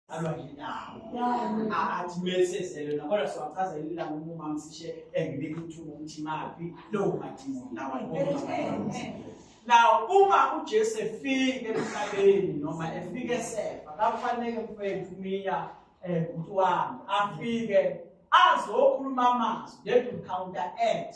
alwa ngendawo athi mesezele nakola siwachaza yini la ngoba umama sishe engibika ukuthi ukuthi maphi lowo madimo lawa Now uma uJesu efike emhlabeni noma efike esefa kakufanele mfethu miya eh umuntu wami afike azokhuluma amazwi let him counteract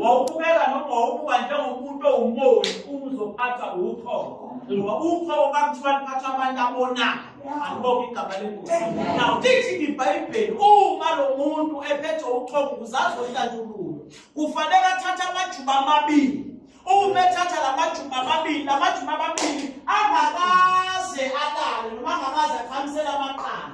wawubukeka noma wawubuka njengomuntu owumoni uma uzophatha uthoko ngoba uthoko kakuthiwa liphatha abantu abonayo alibonge igama lengosi now lithi ibhayibheli uma lo muntu ephethe uthoko uzazohlatshululwa kufanele athathe amajuba amabili uma ethatha la majuba amabili la majuba amabili angakaze alale noma angakaze akhamisele amaqanda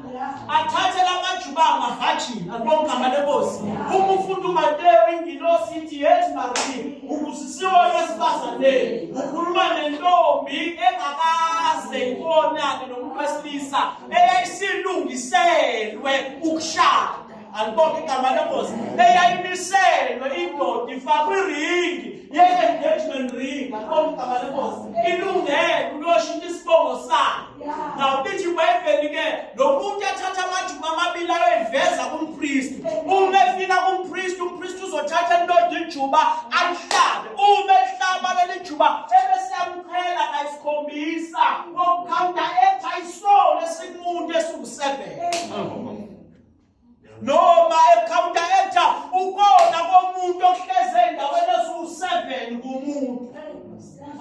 athathe lamajuba mahaji alibongama lenkosi uma ufunda umateyo ingilosi ithi yethi maria ubusisiwe wesifazaneni ukhuluma nentombi engakaze ibonane nomuntu wesilisa eyayisilungiselwe ukushada alibonge igama lenkosi eyayimiselwe indoda ifakwe iringi ye-engagement ring alibonge igama lenkosi ilungele ukuyoshintsha isibongo sayo ngawubithi bayibheni-ke lo muntu athatha amajuba amabili ayoyiveza kumpristi uma efika kumpristi umpristi uzothatha indoda ijuba alihlabe uma elihlaba leli juba ebesiyamqhela kayisikhombisa ngokukhawunta etha isolo esimuntu esiwusebhele noma ekhawunta etha ukona komuntu ohleze endaweni esiwu-seven kumuntu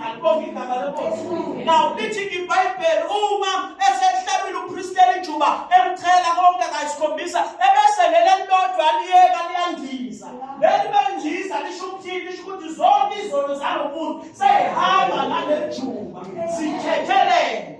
alibonge igama lenkosi now lithi ibhayibheli uma esehlabile upristela ijuba emchela konke kayisikhombisa ebese leli elilodwa liyeka liyandiza leli bendiza lisho ukuthini lisho ukuthi zonke izono zalo muntu seyihamba naleli juba sithethelele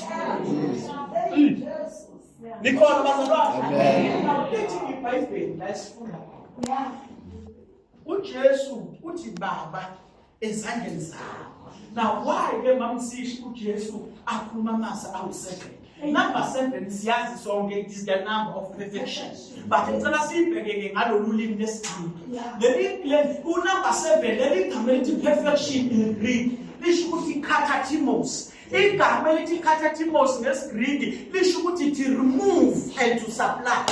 Nikhona bazalwane. Amen. Awulithi iBhayibheli la esifunda. Yeah. uJesu uthi baba ezandleni zakho now why ke mamsishi uJesu akhuluma amasa awuseven number 7 siyazi sonke it is the number of perfection but ngicela sibheke ke ngalolu limi lesizulu leli leli unumber 7 leli gama elithi perfection in Greek lisho ukuthi katatimos igama elithi katatimos ngesigriki lisho ukuthi to remove and to supply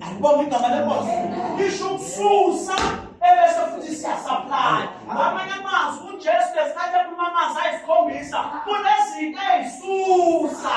alibonga igama lenkosi lisho ukususa ebese futhi siyasupply ngamanye amazwi ujesu lesikhathi ephuma amanzi ayisikhombisa kunezinto ey'susa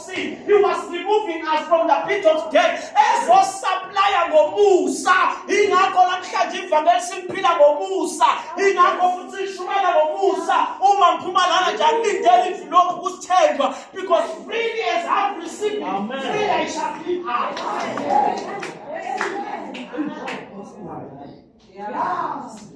He was removing us from the pit of death. Ezosaplaya ngomusa. Ingakho namhlanje ivangeli simphila ngomusa. Ingakho futhi sishumayela ngomusa. Uma ngiphuma lana nje angilindele ivilophu kusithenjwa because freely as I've received, freely I shall give out. Yes.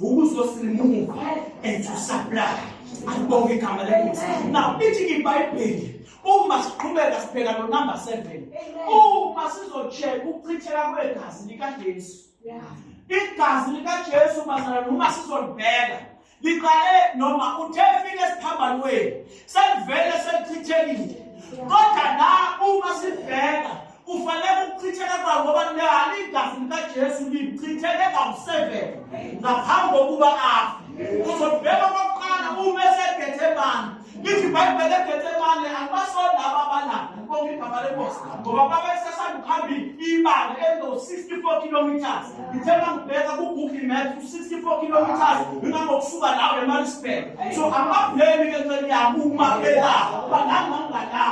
ukuzosimuva and to supply alibonge igama lenkosi now ithi ibhayibheli uma siqhubeka sibheka lo number 7 uma sizocheck ukuchitheka kwegazi likaJesu igazi likaJesu bazana noma sizolibheka liqale noma uthe fike esiphambanweni selivele selichithekile kodwa la uma sibheka kufanele ukuchitheke kwawo ngoba nani igazi likajesu lichitheke kawu-seven ngaphambi kokuba afe uzobheka okokuqala uma esebhethe bani lithi ibhayibhele ebhethe bani akubasona aba balapha bonke igama lenkosi ngoba babesesandukuhamba ibanga elizo-sixty four kilometers ngithe uma ngibheka ku-google maps u-64 kilometers ngingangokusuka lawo emalisburg so amablemi ke nceli yami uma belapha bangangangalapha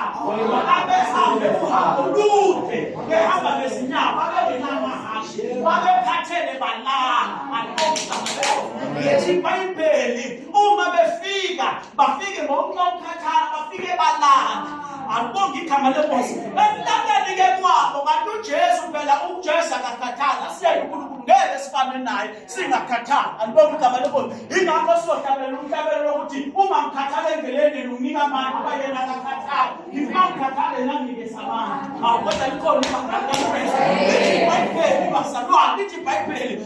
abehambe uhambo lude behamba ngezinyawo babengenamahashe babekhathele balala anqoa yethi ibhayibheli uma befika bafike ngokunqokukhathala bafike balanda akubonga igama lenkosi ekulandeni ke kwabo kanti ujesu phela ujesu akakhathali asiyeke unkulunkulu ngeke sifane naye singakhathali andibonga igama lenkosi ingakho sizohlabela umhlabelo lokuthi uma ngikhathala endleleni nginika abantu uba yena akakhathali ngifuna ngikhathale nangike sabana awu kodwa likhona ibhayibheli ibhayibheli bazalwane lithi ibhayibheli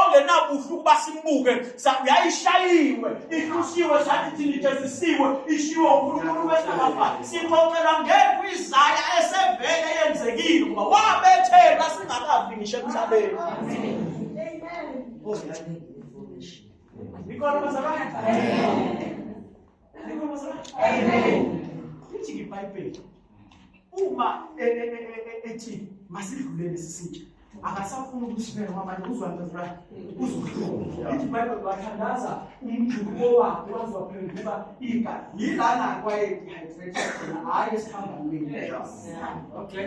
ongenabuhle ukuba simbuke yayishayiwe ihlusiwe sathi thina ijezisiwe ishiwe unkulunkulu wesinabafa sixoxela ngekho izaya esevele yenzekile ukuba wabethelwa singakavi ngisho emhlabeni ikhona bazalwane lithi ibhayibheli uma e, e, e, ethi masidlulele sisitsha akasafuni ukusibeka kwamanye uzwandazula uzohlunga ithi ibhayibheli wathandaza umjuluko wakhe wazwaphenduka igazi yilana kwaye-dehydrate khona hhayi esihambamini okay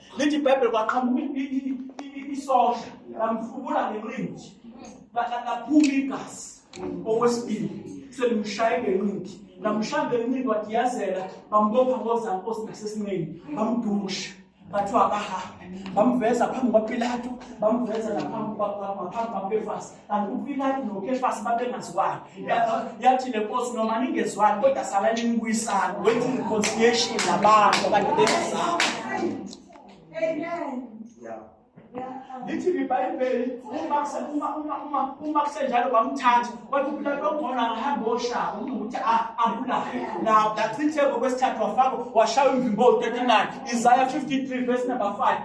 lithi ibhayibheli kwaqhamuka isosha lamfubula ngenqindi laphuma igazi okwesibili selimshaye ngenqindi lamshaya ngenqindi wadiyazela bambopha ngozankosi nasesinqeni bamdusha bathiwa akahambe bamveza phambi kwapilato bamveza naphambi kwaphambi kwapefasi kanti uPilate noKefasi babengazwani yathi le nkosi noma ningezwani kodwa sala nimbuyisana wenza i-reconciliation nabantu abantu bengazani lithi libhayibheli uma kusenjalo bamthatha wathi uPilate wakhona angahamba oshaya umuntu ukuthi abulaye lapho achitheke okwesithathu wafaka washaya umvimbo 39 Isaiah 53 verse number 5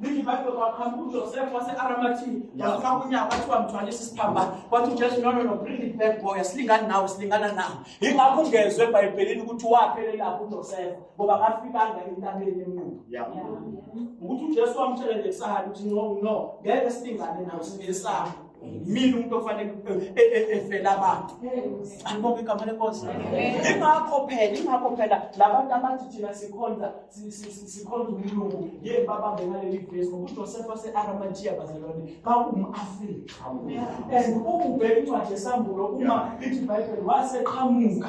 Lithi iBhayibheli kwaqhamuka uJosefa wase-Aramathi wafaka unyaka wathi wamthwalisa isiphambano wathi uJesu no no no bring it back boy asilingani nawe silingana nawe yingakho ungezwe eBhayibhelini ukuthi waphelelaphi uJosefa ngoba kafikanga entabeni emnqubo ukuthi uJesu wamtshela nje kusahani ukuthi no no ngeke silingane nawe sinesabo mina umuntu ofanele e- e- e- efela abantu alibonke igama lenkosi ingakho phela ingakho phela labantu abathi thina sikhonza sikhonza umlungu ye babambe ngaleli vesi ngokujosefa wase-aramatiya bazalwane bawum-afrika and ukubheka incwadi esambulo uma ithi ibhayibheli waseqhamuka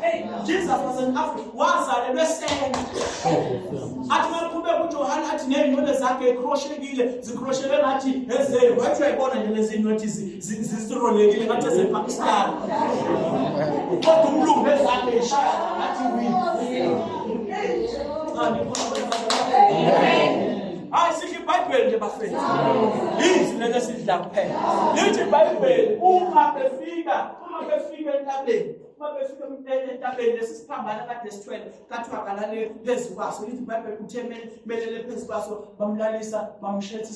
Hey, Jesus was an African. Wazalelwe eSenga. Athi makuphube kuJohane athi nezinwele zakhe ekroshekile, zikrosheke ngathi ezeye. Wathi uyayibona nje lezi zinwele zisirolekile ngathi ezePakistan. Kodwa umlungu nezakhe ishaya ngathi wini. Hayi sidla iBhayibheli nje bafethu. Yini lento esidla kuphela. Lithi iBhayibheli uma befika, uma befika entabeni uma befika entabeni lesi siphambana kade sithwele kathiwa kalale phezu kwaso lithi ibhayibheli kuthe melele phezu kwaso bamlalisa bamshetha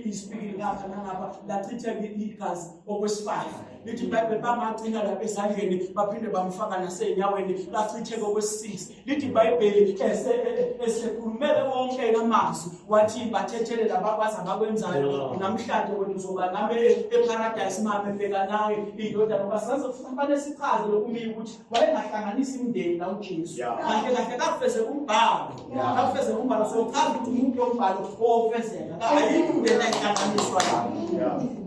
isipikili ngapha nangapha lachitheke igazi okwesifayo lithi ibhayibheli bamagcina lapha ezandleni baphinde bamfaka nasey'nyaweni lachitheke okwesisisi lithi ibhayibheli esekhulumele wonke amazwi wathi bathethelela bakwazi abakwenzayo namhlanje wena uzoba nami eparadayisi mame bheka nawe indodana ngoba saze kufanele sichaze lokumile ukuthi wayengahlanganisa imindeni la ujesu kahle kahle kafeze umbhalo kafeze umbhalo sochaza ukuthi umuntu yombhalo owofezeka ayikho into engahlanganiswa lapho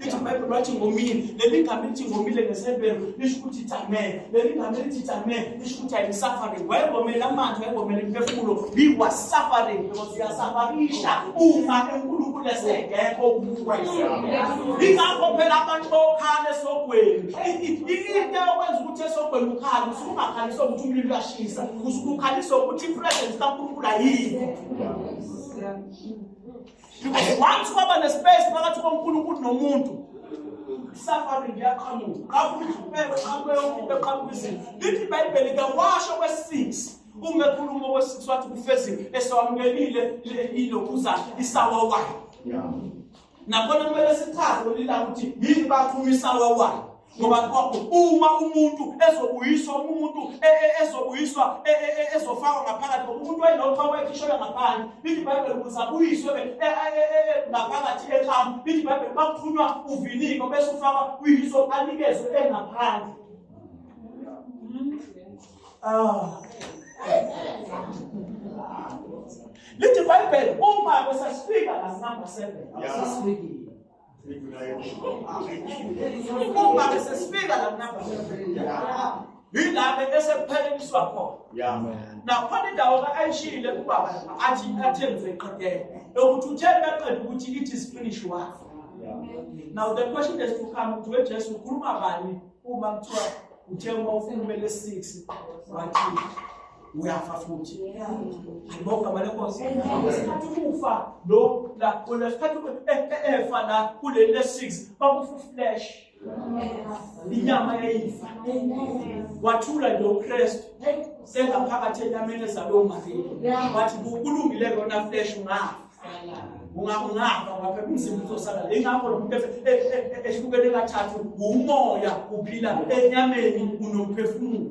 Lithi uBhayibheli wathi ngomile. Leli gama elithi ngomile ngeseBheru lisho ukuthi itamele. Leli gama elithi itamele lisho ukuthi I'm suffering. Wayengomele amanzi, wayengomele imphefumulo. He was suffering because uyasafarisha uma uNkulunkulu esengekho ukukwenza. Ingakho phela abantu bokhala esogweni. Into eyokwenza ukuthi esogweni ukhale, usuke ungakhali sokuthi umlilo uyashisa. Usuke ukhalisa ukuthi i-presence kaNkulunkulu ayikho. because once kwaba nespace phakathi konkulunkulu nomuntu isafari liyaqhamuka qhamuka izupelo qhamuka yomuntu eqhamuka izinto lithi ibhayibheli kawasho kwesi-six uma ekhuluma okwesi-six wathi kufezile esawamukelile ilokhuza isawa wayo nakhona kumele sichaze olila ukuthi yini baphuma isawa wayo ngoba uma umuntu ezobuyiswa uma umuntu e, e, ezobuyiswa e, ezofakwa ngaphakathi ngoba umuntu wayelokhu awayekhishelwe ngaphandle lithi ibhayibheli ukuze abuyiswe ngaphakathi ekamu lithi ibhayibheli bakuthunywa uviniko bese ufakwa kuyiso anikezwe engaphandle ah. lithi ibhayibheli uma besasifika ngasinamba seven asasifikile Uma bese sifika la namba. Yilapho bese kupheleliswa khona. Yeah. Nakhona indawo ayishile kubaba athi athenze iqhekele. Ukuthi uthele baqeda ukuthi it is finish work. Now the question is to come to Jesu ukhuluma bani uma kuthiwa uthe uma ukhulumele 6 wathi uyafa futhi ayibonga mali enkosi ngesikhathi kufa lo la kulesikhathi efa la kuleli le-six bakufuflesh inyama yayifa wathula nje ukristu sengaphakathi enyameni ezalwe umaria wathi kulungile kona flesh ungafa ungafa ngapha umzimba uzosala ingakho lo muntu ehlukene kathathu umoya uphila enyameni unomphefumulo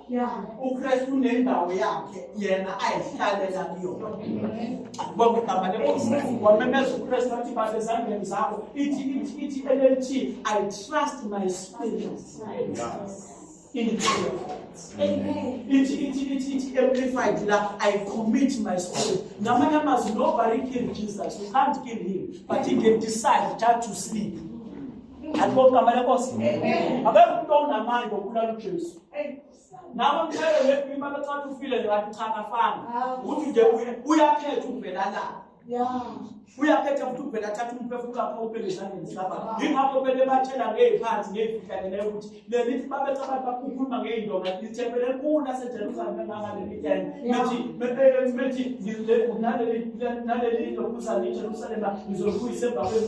ukristu unendawo yakhe yena ayihlalela kuyona bonke igama lenkosi wamemeza ukristu athi baba ezandleni zakho ithi ithi ithi llt i trust my spirit ithi ithi ithi ithi amplified la i commit my spirit ngamanye amazwi nobody kill jesus you can't kill him but he can decide just to sleep andibonke igama lenkosi akekho umntu onamandla okubulala ujesu nawe mshayele wethu imali ocathi ufile ngathi cha kafana ukuthi nje uyakhetha ukuvela la uyakhetha ukuthi uvela athatha umphefumulo wakho ubeke ezandleni zikababa yingakho kumele batshela ngey'phansi ngey'fihlakeleyo ukuthi lelithi babethi abantu bakukhuluma ngey'ndonga lithempele elikhulu lasejerusalem engangalelitene methi methi naleli nto kuzani ijerusalema ngizolibuyisa emva kwenu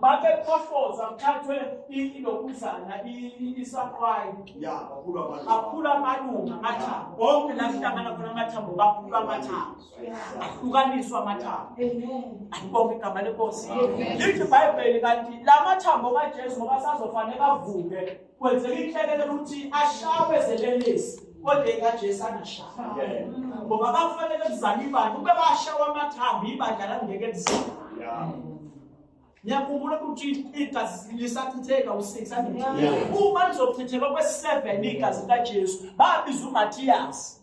babekhohloza kuthathwe ilokuzana isaqwayi aphula amalunga amathambo bonke la kuhlangana khona amathambo baphula amathambo ahlukaniswa amathambo ayibonke igama lenkosi lithi ibhayibheli kanti la mathambo kajesu ngoba sazofanele avuke kwenzeka inhlekelele ukuthi ashawe zelelesi kodwa ekajesu angashawa ngoba bakufanele kuzala ibandla ube bashawa amathambo ibandla langeke lizala ngiyakhumbula ukuthi igazi lisachitheka u-six uma lizochitheka kwe-seven igazi likajesu babiza umathiyasi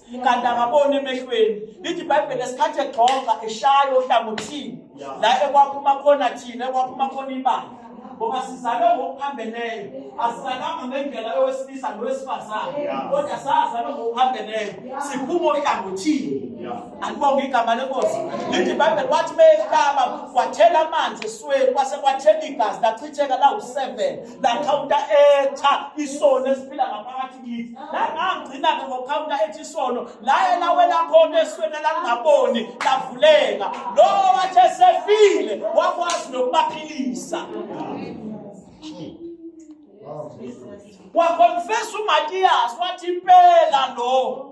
kanti akaboni emehlweni lithi ibhayibheli esikhathi egxoxa eshayo ohlangothini la ekwaphuma khona thina ekwaphuma khona ibanga ngoba sizalwe ngokuphambeleyo asizalanga ngendlela yowesilisa nowesifazane kodwa sazalwe ngokuphambeleyo siphuma ohlangothini andibonge igama lenkosi lithi ibhayibheli wathi meyehlaba kwathela amanzi esweni kwase kwathela igazi lachitheka lawu-seven lakhawunta etha isoni esiphila ngaphakathi kithi langangcina ke ngokhawunta ethi isono laye lawela khona esweni langaboni lavuleka lowo wathi esefile wakwazi nokubaphilisa wakonfesa umatiyasi wathi impela lo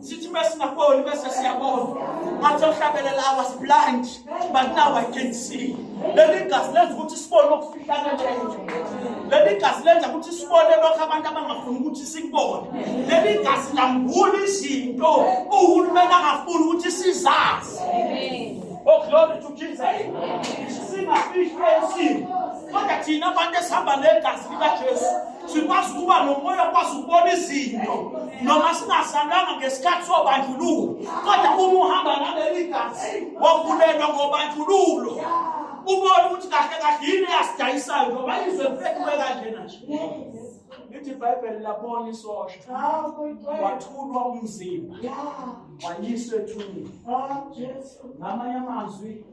sithi uma singaboni bese siyabona ngathi ohlabelela i was blind but now i can see leli gazi lenza ukuthi sibone okufihlana njenje leli gazi lenza ukuthi sibone lokho abantu abangafuni ukuthi sikubone leli gazi lambula izinto uhulumeni angafuni ukuthi sizazi oh glory to jesus singafihlwe isimo kodwa thina abantu esihamba negazi likajesu sikwazi ukuba nomoya okwazi ukubona izinto noma singazalanga ngesikhathi sobandlululo kodwa uma uhamba naleli gazi wavulelwa ngobandlululo ubone ukuthi kahle kahle yini eyasidayisayo ngoba izwe lifekiwe kanjena nje lithi ibhayibheli labona isosha wathulwa umzimba wayiswa ethuneni ngamanye amazwi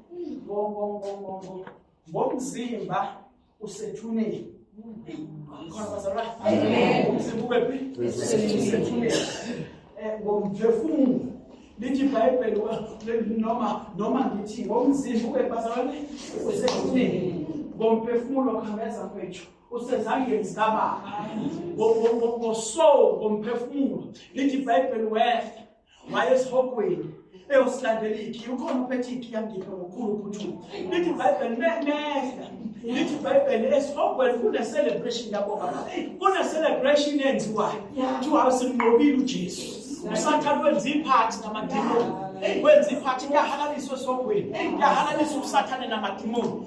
bongongongongo ngomzimba usethuneni khona bazalwane umzimba ube phi usethuneni eh, ngomphefumulo lithi ibhayibheli noma noma ngithi ngomzimba ube bazalwane usethuneni ngomphefumulo khangeza kwethu usezandleni zikababa ngosoul ngomphefumulo lithi ibhayibheli wehla wayesihogweni eyosilandela ikhi ukhona uphethe ikhi yangipha ngokukhulu uphuthumo lithi ibhayibheli mehla lithi ibhayibheli esihogweni kune-celebration yabo baba kune-celebration enziwayo kuthiwa simnqobile ujesu usathane wenza iphathi namadimoni wenza iphathi kuyahalaliswa esihogweni kuyahalaliswa usathane namadimoni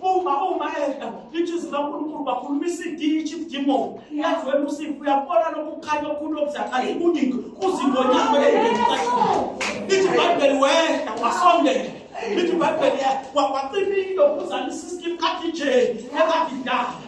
uma uma edla lithi izwi likankulunkulu bakhulumisa idishi demon yazi wena usifu uyabona lokukhanya okukhulu okuzakhala ikuningi kuzingonyako lithi ibhayibheli wehla wasondela lithi ibhayibheli wacimile ukuzalisa isikimu kathi nje ekadidala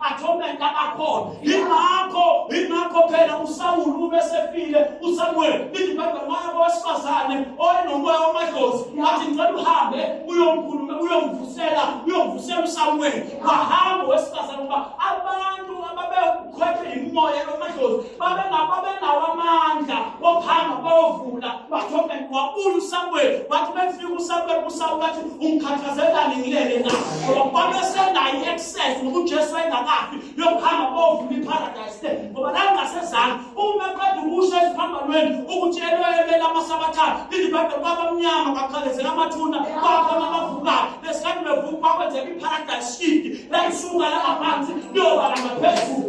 atonement abakhona yingakho yingakho phela usawulu ube sefile usamuweli lithi ibhayibheli maya kowesifazane oenomoya wamadlozi ngathi ngicela uhambe uyomkhuluma uyomvusela uyomvusela usamuweli wahamba owesifazane ukuba abantu ababekhwethwe yimoya yomadlozi babenawo amandla wokuhamba bayovula bathomeni wabula usamuweli wathi befika usamuweli usawulu wathi ungikhathazelani ngilele na ngoba babesenayo sese ngoba uJesu wayengakafi yokuhamba bovula iparadise le ngoba la ngasezansi uma eqeda ukusho esiphambanweni ukuthi elwelele amasabathana lithi bade kwabamnyama kwaqhaqezela amathuna kwakhona abavukayo lesikhathi bevuka kwakwenzeka iparadise shift layisuka la ngaphansi liyoba la ngaphezulu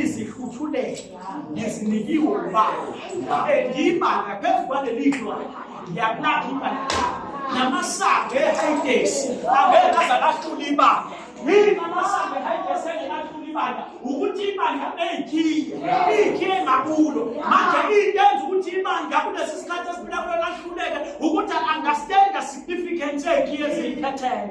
izihluthulelo ngizinikiwe ubaba engima ngaphezu kwaleli dlwana ngiyakulapha imali namasango ehayidesi angeke aze ahlule ibanga yini amasango ehayidesi engeke ahlule ibanga ukuthi ibanga eyikhiye iyikhiye ngakulo manje into enza ukuthi ibanga kulesi sikhathi esiphila kulo lahluleke ukuthi understand the significance eyikhiye eziyikhethele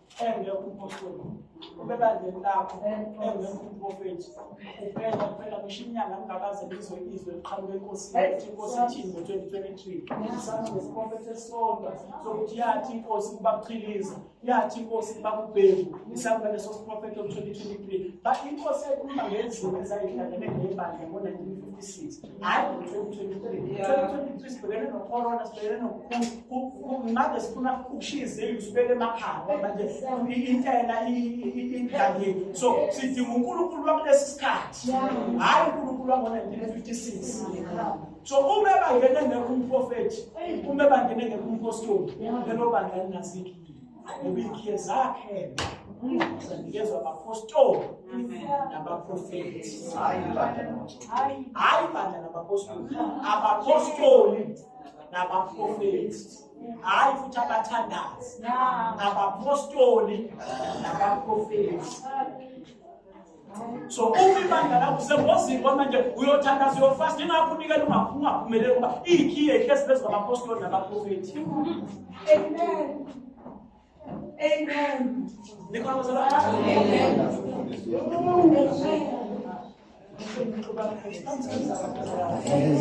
engekho umpostoli ubebandleni lakho engekho umprofethi kuphela kuphela ngisho inyanga ngingakaze ngizwe izwe liqhamuka enkosini ukuthi inkosi ithini ngo-twenty twenty-three isangesiprofethi esisodwa sokuthi yathi inkosi kubaqhiliza yathi inkosi kubakubheku isangula leso siprofethi o-twenty twenty-three but inkosi yayikhuluma ngezinto ezayidlalele ngebandla ngo-nineteen fifty-six hayi ngo-2023 sibhekene nocorona sibhekene nokungabe sifuna ukushiya izindlu sibeke emakhaya ngoba nje intela idangile so sidinga unkulunkulu wakulesi sikhathi hhayi unkulunkulu wango-1956 so uma bangene ngekho umprofethi uma bangene ngekho umphostoli lelo bangani nazikho Ubikhe zakhe zanikezwa abapostoli nabaprofethi. Hayi bandla nabapostoli, abapostoli nabaprofethi. Hayi futhi abathandazi, abapostoli nabaprofethi. so uma ibandla lakho usengozini kwamanje uyothandaza uyofasta ingakho unikela ungaphumeleli ngoba iyikhiye ihlezi phezu kwamapostoli nabaprofethi amen amen Amen.